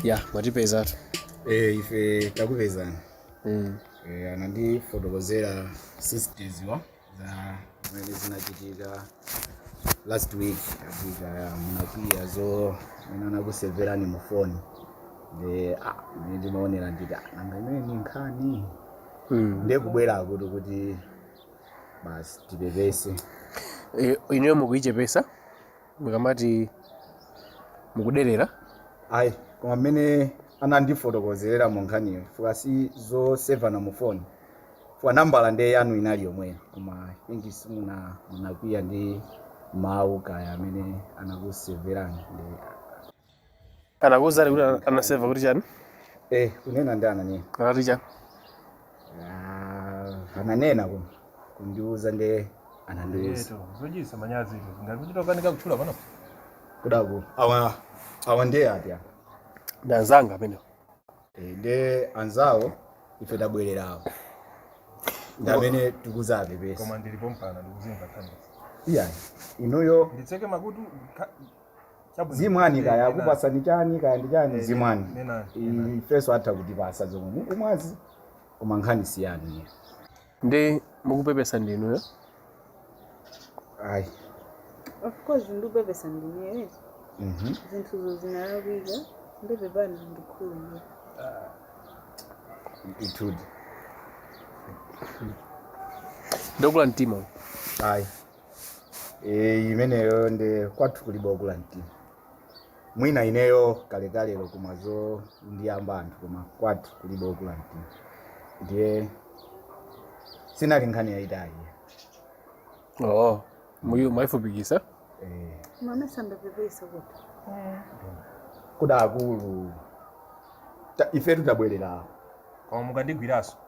ya mwatipezatu Eh, ife takupezani mm. Eh, anandifotokozera sisters wa za zimene zinachitika last week achitika ya munakwiya zomwe anakuseverani mu phone nde ah, mene ndimaonera nditi "Ah, nanga imeneyi ndi nkhani Mm. nde kubwera akuti kuti basi tipepese Eh, ineyo mukuichepesa mukamati mukuderera ayi koma mmene anandifotokozerera mu nkhaniyo chifukwa si zosevana mu foni chifukwa nambala ndiye yanu inali yomweyo koma inki simuna munakwiya ndi mawu kaya amene anakuseverani ndi Anakuuzani kuti ana- anaseva kuti chani? Eh, kunena ndi ananena. Anati chani? Ah, ananena kuno. Kundiuza ndiye anandiuza. Zochisa manyazi izo. Ngati kuchita ukanika kutchula pano. Kudaku. Awa awa ndiye ati apa. Ndi anzanga amenewo. Eh, ndi anzawo ife tabwerera awo. Ndi amene tikuzapepesa. Koma ndilipo mpana ndikuzingakhanisa. Iya. Inuyo Mutseke makutu ka- Chabwino. zimwani kaya Nenani. akupasani chani kaya ndi chani Eh, zimwani nenani, nenani. ifeso atha kutipasa zomwe mukumwazi koma nkhani siyani iye nde mukupepesa ndinuyo ayi of course ndikupepesa ndineyo Mhm. zinthuzo zinalakwika nde pepani ndikhululukireni ndithudi ndokula mtima ayi e, imeneyo nde kwathu kulibe okula mtima mwina ineyo kalekalelo koma zondiyamba anthu koma kwathu kulibe okula mtima ndiye sinali nkhani yayitali oo muyu mwayifupikisa e, ndimayesa ndapepesa kutikuda akulu ta- ifetu tabwerera koma mukandigwiranso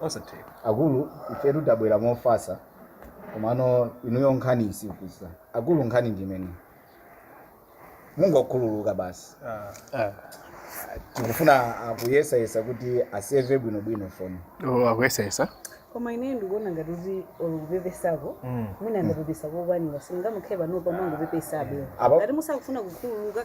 osatheka akulu ifetu tabwera mofasa komano inuyo nkhani musikuze akulu nkhani ndi imene mungokhululuka basi Ah, tikufuna akuyesayesa kuti aseve bwinobwino foni oh, akuyesayesa koma ine ndikuona ngati kuti kupepesako mwina ndapepesa kokwanira simungamukhe panopa mwangopepesabe Apa- ngati musakufuna kukhululuka